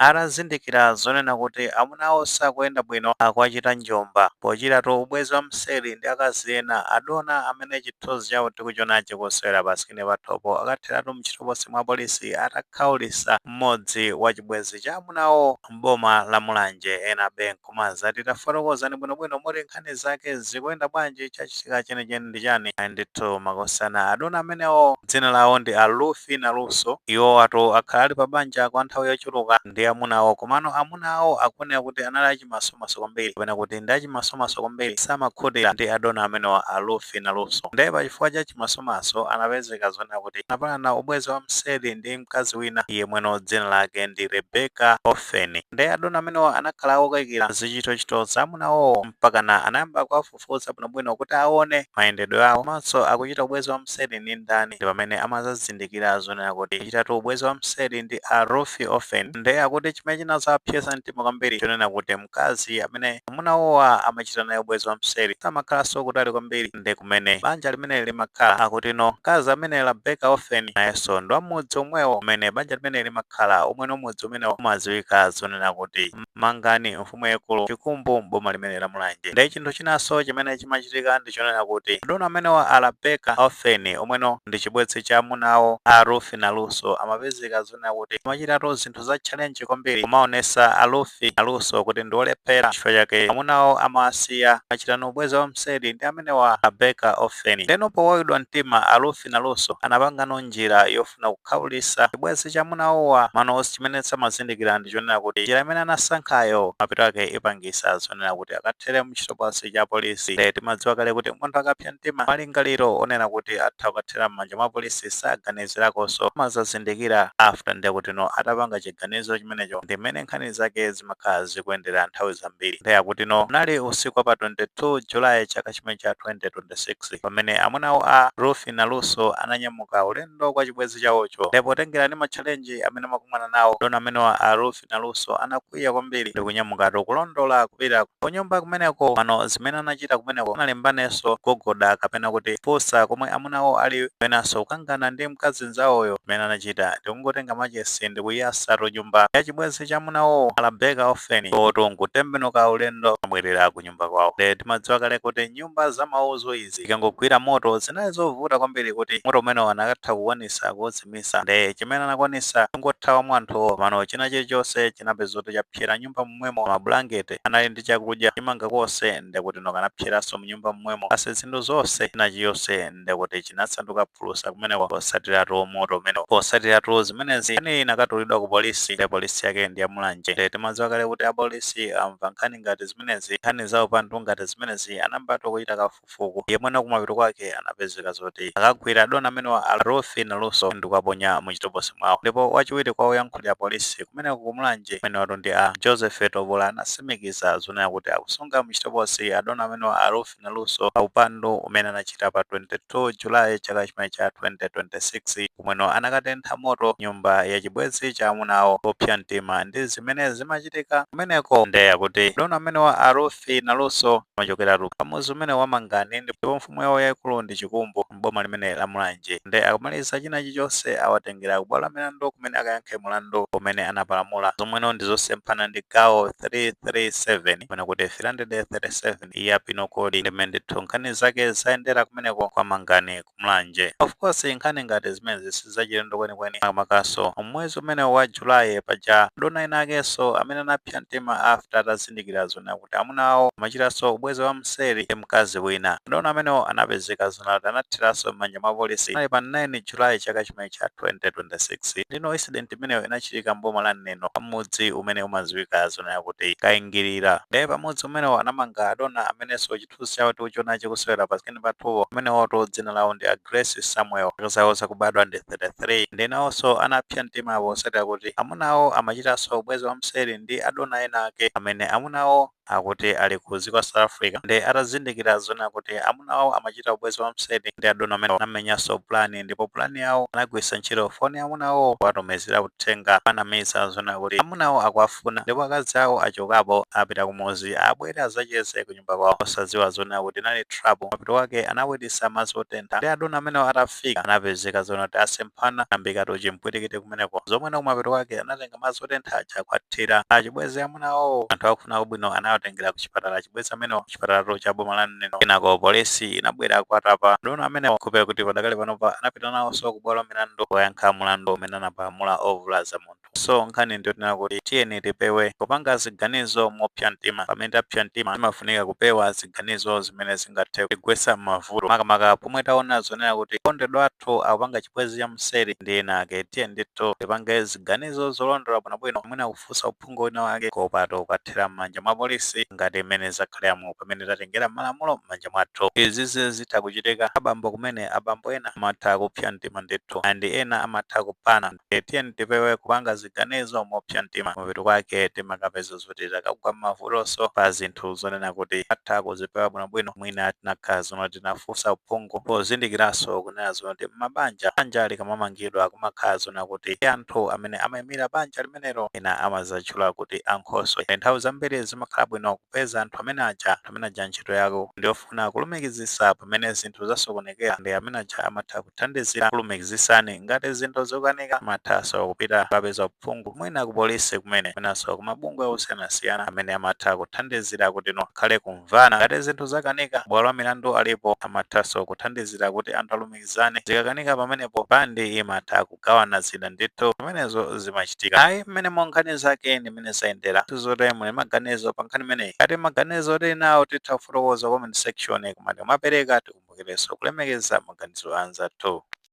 Atazindikira zonena kuti amuna awo sakuyenda bwino, akuwachita njomba. Pochitatu ubwezi wa mseri ndi akazi ena, adona amene chithunzi chawo tikuchionachi kusewera pasikini pathopo akatheratu mchitokosi mwa polisi atakhaulisa mmodzi wa chibwenzi cha amuna awo m'boma la Mulanje. Enabe nku. kumazati tafotokozani bwinobwino moti nkhani zake zikuyenda bwanji chachitika chenicheni ndi chani ayi ndithu makosana adona amenewo dzina lawo ndi a Rufi Naluso iwowatu akhala ali pa banja kwa nthawi yochuluka ndi amuna awo komano amuna awo akuoneka kuti anali achimasomaso kwambiri kapena kuti ndi achimasomaso kwambiri samakhutira ndi adona amenewa a Rufi Naluso ndiye pa chifukwa cha chimasomaso anapezeka zonena kuti anapalana ubwenzi wa mseri ndi mkazi wina yemweno dzina lake ndi Rebecca Of Ofen. Nde adona amenewa anakhala okaikila zichitochito za amuna awowo mpakana anayamba kuwafufuza bwinobwino kuti awone mayendedwe awo komanso akuchita ubwezi wa mseli ndi ndani ndipamene amazazindikila zonena kuti akuchitatu ubwezi wa mseli ndi a Rufi Ofen nde akuti chimene chinazawaphyesa mtima kwambiri chonena kuti mkazi amene amuna awowa amachita naye ubwezi wa mseli samakhalanso kutali kwambiri ndi kumene banja limeneli limakhala. Akuti no mkazi amene Rabeka Ofeni nayenso ndi wa mudzi omwewo umene banja limeneli limakhala, omweno mudzi umenewo umadziwika zonena kuti Mangani, mfumu yaikulu Chikumbu m'boma limeneli la Mulanje. Nde chinthu chinanso chimene chimachitika ndi chonena kuti adona amenewa a Rabeka Ofeni, omweno ndi chibwenzi cha amuna awo a Rufi Naluso, amapezeka zonena kuti amachitatu zinthu za challenge kwambiri kumaonesa a Rufi Naluso kuti ndi olephera chifukwa chake amuna awo amawasiya amachitano ubwezi wamseri ndi amenewa a Rabeka Ofeni ndeno powawidwa mtima a Rufi Naluso anapangano njira yofuna kukhaulisa chibwezi cha amuna awowa mano chimene samazindikira ndi chonena kuti njira imene anasankhayo mapeto ake ipangisa zonena kuti akathere mchitokosi cha polisi nde timadziwa kale kuti munthu akapsa mtima malingaliro onena kuti atha kukathera m'manja mwa polisi sagani zilakonso amazazindikira after nde akuti no atapanga chiganizo chimenecho ndi mmene nkhani zake zimakhala zikuyendera nthawi zambiri nde akuti no unali usiku wa pa 22 July chaka chimene cha 2026 pamene amunawo a Rufi Naluso ananyamuka ulendo kwa chibwenzi chawocho nde potengera ndi matchalenji amene amakumana nawo adona amenewa a Rufi Naluso anakwiya kwambiri ndikunyamukatu kulondola kupita kunyumba kumeneko pano zimene anachita kumeneko sanalimbaneso kugogoda kapena kuti kufunsa komwe amunawo ali penaso kukangana ndi mkazi nzawoyo zimene anachita ndikungotenga machesi ndikuyasatu nyumba yachibwezi cha amunawowo Rabecca Offeni iwotu nkutembenuka ulendo nabwelera kunyumba. kunyumba kwawo nde timadziwa kale kuti nyumba za mauzu izi ikangogwira moto zinali zovuta kwambiri kuti moto umenewo anakatha kukwanisa kuuzimisa nde chimene anakwanisa kungothawamo anthuwo mano china chilichonse chinapeza kuti chapsera mnyumba momwemo mabulangete anali ndi chakudya chimanga konse nde akuti no kanapseranso mnyumba momwemo basi zinthu zonse china chilichonse ndiye kuti chinasanduka phulusa kumeneko posatiratu moto umene posatiratu zimenezi nkhani inakatulidwa ku polisi nde polisi yake ndi ya Mulanje nde timadziwa kale kuti apolisi akamva nkhani ngati zimenezi nkhani za upandu ngati zimenezi anayambatu kuchita kafukufuku yemweno kumapeto kwake anapezeka zoti akagwira adona amenewa a Ruth Naluso ndi kuwaponya mu chitokosi mwawo ndipo wachiwiri kwa woyankhulira polisi kumeneko ku mulanje amenewatu ndi a Joseph Tobola anasimikiza zonena kuti akusunga mu chitokosi adona amenewa a Ruth Naluso pa upandu umene anachita pa 22 July chaka chimene cha 2026 komweno anakatentha moto nyumba ya chibwezi cha amuna awo popsa mtima ndi zimene zimachitika kumeneko nde akuti adona amenewa a Ruth Naluso amachokeratu pa mudzi umene wa Mangani ndipo mfumu yawo yaikulu ndi Chikumbu. m'boma limene la Mulanje nde akamaliza china chilichonse awatengera kubwalo la milandu kumene akayankhe mulandu umene anapalamula zomweno ndi zosemphana ndi gawo 337 kapena kuti 337 ya penal code ndi mmene ndithu nkhani zake zayendera kumeneko kwa Mangani ku Mulanje. Of course nkhani ngati zimenezi sizachilendo kwenikweni makamakaso mwezi umenewu wa July paja adona ena akenso amene anapsa mtima after atazindikira zonena kuti amuna awo amachitanso ubwezi wa mseri ndi mkazi wina. Adona amenewo anapezeka zonena kuti anatheranso m'manja mwa polisi. Panali pa 9 July chaka chimene cha 2026. Ndeno incident imeneyo inachitika m'boma la Neno pa mudzi umene umaziwika zonena kuti Kaingilira. Nde pa mudzi umenewo anamanga adona amenenso chithunzi chawo tikuchiona chikusewera pa screen pathupo. Amenewatu dzina lawo ndi a Grace Samuel. Zaka zawo zakubadwa ndi 33. Ndiye nawonso anapsa mtima potsatira kuti amuna awo amachitanso ubwenzi wamseri ndi adona ena ake amene amuna awo akuti ali ku dziko la South Africa. Ndiye atazindikira zonena kuti amuna awo amachita ubwenzi wamseri ndi adona amenewa, anamenyanso pulani ndipo pulani yawo anagwiritsa ntchito foni ya amuna awowo powatumizira uthenga kuwanamiza zonena kuti amuna awo akuwafuna ndipo akazi awo achokapo apita kumudzi abwere adzacheze ku kunyumba kwawo osadziwa zonena kuti inali trap. Kumapeto kwake anawilisa madzi otentha nde adona amenewo atafika anapezeka zonena kuti asemphana anayambikatu chimpwirikiti kumeneko zomweno kumapeto kwake anatenga madzi otentha aja kuwathira achibwezi a amuna awowo. Anthu akufuna kwabwino anawatengera kuchipatala achibwezi amenewo kuchipatalatu cha boma la Neno. Kenako polisi inabwera kuwatapa adona amenewo nkupeza kuti padakali panopa anapita nawoso kubwalo la milandu kukayankha mulandu umene anapalamula ovulaza munthu. So nkhani ndiyonena kuti tiyeni tipewe kupanga ziganizo mopsa mtima. Pamene tapsa mtima zimafunika kupewa ziganizo zimene zingathe kutigwetsa m'mavuto, makamaka pomwe taona zonena kuti okondedwa athu akupanga chibwenzi cha mseri ndi ena ake. Tiyeni ndithu tipange ziganizo zolondola bwinobwino, mwina kufunsa uphungu wina wake kuopatu kukathera m'manja mwa polisi ngati mmene zakhaliramu pamene tatengera malamulo m'manja mwathu. Izizi zitha kuchitika abambo kumene, abambo ena amatha kupsa mtima ndithu and ena amatha kuphana. Ndiye tiyeni tipewe kupanga ziganizo mopsa mtima. Mapeto kwake timakapeza zoti takagwa m'mavutonso pa zinthu zonena kuti titha kuzipewa bwinobwino. Mwina tinakhala zona tinafunsa uphungu pozindikiranso kunena zona kuti m'mabanja, banja likamamangidwa kumakhala zonena kuti anthu amene amaimira banja limenelo ena amazatchula kuti ankhoswe. Nthawi zambiri zimakhala bwino kupeza anthu amene aja, anthu amene aja ntchito yawo ndi Kufuna kulumikizisa pamene zinthu zasokonekera ndi amene aja amatha kuthandizira kulumikizisani. Ngati zinthu zokanika mumathaso kupita kukapeza uphungu mwina ku polisi kumene mwinaso ku mabungwe osiyanasiyana amene amatha kuthandizira kuti mukhale kumvana. Ngati zinthu zakanika mabwalo a milandu alipo amathaso kuthandizira kuti anthu alumikizane. Zikakanika pamenepo banja limatha. kugawana zina ndithu zimenezo zimachitika ayi mmenemo nkhani zake ndi mmene zayendera tizoti muli ndi maganizo pa nkhani imeneyi ngati maganizo tili nawo titha kufotokoza comment section koma tikamapereka tikumbukirenso kulemekeza maganizo a anzathu